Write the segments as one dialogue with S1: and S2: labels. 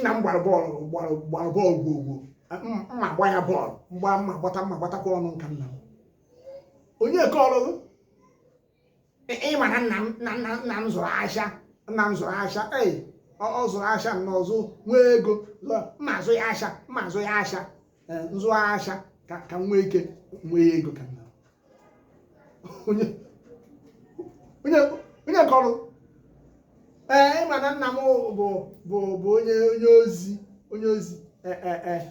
S1: nna m gbara bọọlụ gbara gbara bọọlụ gwogwo mma gba ya bọọlụ mgba mma gbata mma gbatakwa ọnụ nka nna m onye kọrọ ịma na nna m na nna nna m zụrụ ahịa nna m zụrụ ahịa ee ọ ọ zụrụ ahịa nna ọzọ nwee ego zụọ, mma azụ ya ahịa mma azụ ya ahịa eh, nzụ asha ka ka nwee ike nwee ego ka nna onye onye onye kọrọ ee eh, ịma na nna m bụ bụ bụ onye onye ozi onye ozi eh, eh,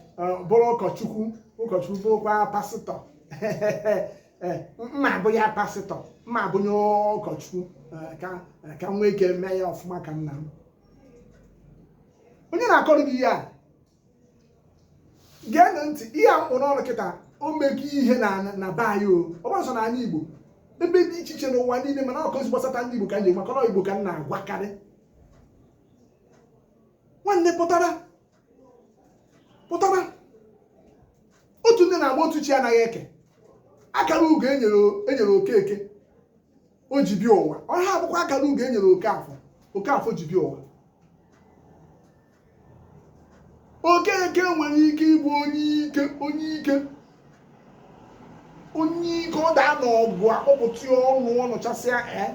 S1: bụrụ ụkọchukwu ụkọchukwu bụrụkwa pasịtọ mma bụ ya pasịtọ mma bụ onye ụkọchukwu ka nwee ike mee ya ọfụma ka nna m onye na-akọrọ gị ihe a geenụ ntị ihe a m kpụ n'ọnụ kịta o mego ihe na na be anyị o ọ bụghị sọ n'anị igbo ebe dị iche iche n'ụwa niile mana ọ kasị gbasata ndị igbo ka nje maka igbo ka m na-agwakarị nwanne pụtara pụtara otu nne na-agba otu chi anaghị eke akara ugo e nyere okeke o ji bịa ụwa ọha abụkwa akara ugo e nyere okafọ okafọ ji bịa ụwa Okeke nwere ike ịbụ onye ike onye ike onye ike ọ daa n'ọgụ akpọpụta ya ọnụ ọ nụchasịa ee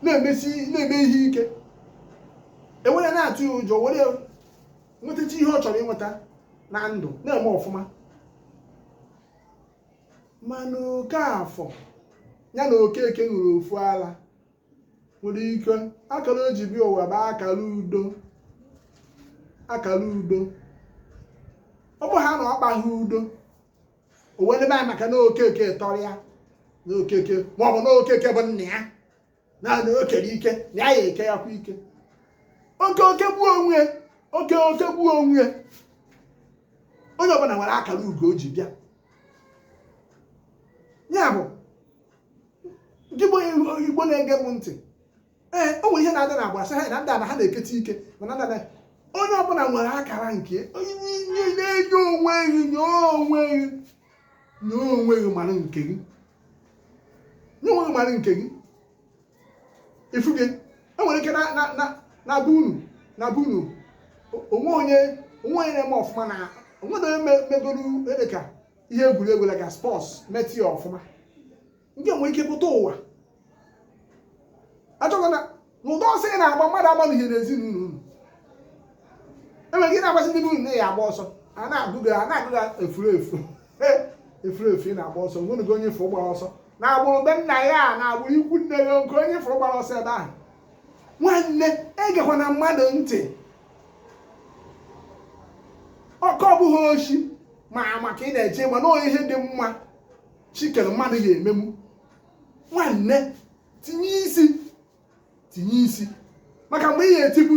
S1: na-emesi na-eme ihe ike e were na-atụ ya ụjọ were nwetacha ihe ọ chọrọ ịnweta na ndụ na-eme ọfụma mana Okafọ ya na Okeke ṅụrụ ofu ala nwere ike akara o ji bịa ụwa bụ akara udo akara udo ọ bụ ha na ọ kpaghị udo o wee debe anyị maka na okeke tọrọ ya na okeke ma ọ bụ na okeke bụ nna ya na na o kere ike na ya ya eke ya kwa ike o kee o kegbuo onwe ya, o kee o kegbuo onwe ya. onye ọbụla nwere akara ugo o ji bịa ya bụ gị bụ igbo na-ege m ntị ee o nwere ihe na-adị na agbasa ha na ndị a na ha na-eketa ike mana ndị a na onye ọbụla nwere akara nke onye na-enye onwe gị nye onwe gị nye onwe gị mara nke gị nye onwe gị mara nke gị ifu gị e nwere ike na be unu na be unu o nwee onye o nwee onye na-eme ọfụma na o nwee na onye megoro ede ka ihe egwuregwu like sports metụ ya ọfụma nke nwere ike pụta ụwa achọghị na n'ụdị ọsọ ị na-agba mmadụ agbalị ihe n'ezinụlọ unu enwere ike na-agbasị ndị bụ na ya agba ọsọ a na-agụ gị a na-agụ gị efuru efu efuru efu ị na-agba ọsọ o nweghị onye ị fụrụ gbara ọsọ na agbụrụ be nna ya na agbụrụ ikwu nne ya nke onye ị fụrụ gbara ọsọ ebe ahụ nwanne egekwa na mmadụ ntị ọkọ ọ bụghị oshi ma ama ka ị na-eche ma nọọ ihe dị mma Chi kere mmadụ ya ememu nwanne tinye isi tinye isi maka mgbe ị ga-etipu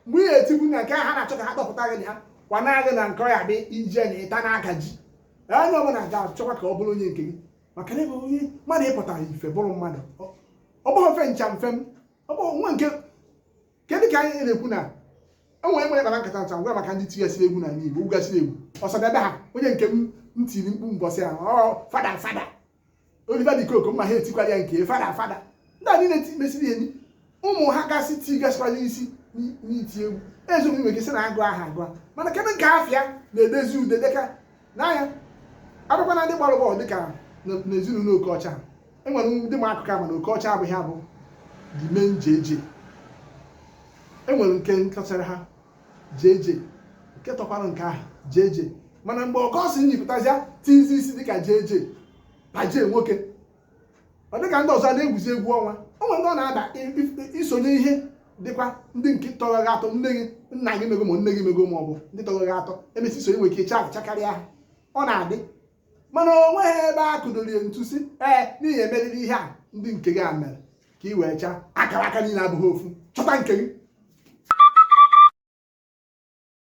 S1: mgbe ị ga-etipu na nke ha na-achọ ka ha kpọpụta gị na ha kwana gị na nke ya bụ ije na ịta n'aka ji onye ọbụla ga-achọkwa ka ọ bụrụ onye nke gị maka na ebe onye mmadụ ị pụtara ife bụrụ mmadụ ọ bụghị ofe ncha mfe m ọ bụghị nwa nke kedụ ka anyị na-ekwu na enwere nwere kpara nkata ncha ngwa maka ndị tigasịrị egwu n'ala Igbo gụgasịrị egwu Osadebe ha onye nke m tiri mkpu mbọsị ahụ ọ fada fada Oliver de Coque mma ha etikwara ya nke fada fada ndị a niile mesịa ụmụ ha gasị tigasịkwara isi n'iti egwu eziokwu nwere ike sị na agụ aha agụ mana kedụ nke afa ya na-edezi ude dịka nna ya a bịakwa na ndị gbara bọọlụ dịka n'ezinụlọ Okeọcha enwere ndị ma akụkọ a ma na Okeọcha abụghị ya bụ the main JJ enwere nke nkachara ha JJ nke tọkwara nke ahụ JJ mana mgbe Augustine pụtazịa tizi isi dịka JJ na J nwoke ọ dịka ndị ọzọ na-egwuzi egwu ọnwa o nwere ndị ọ na-ada isonye ihe dịkwa ndị nke tọrọ gị atọ nne gị nna gị mego ma nne gị mego ma ọ bụ ndị tọrọ gị atọ e mesịa i sonye nwere ike chakarịa ha ọ na-adị mana o nweghị ebe a kụdoro ya ntu sị ee na ị ya-emeriri ihe a ndị nke gị a mere ka ị wee chaa akara aka niile abụghị ofu chọta nke gị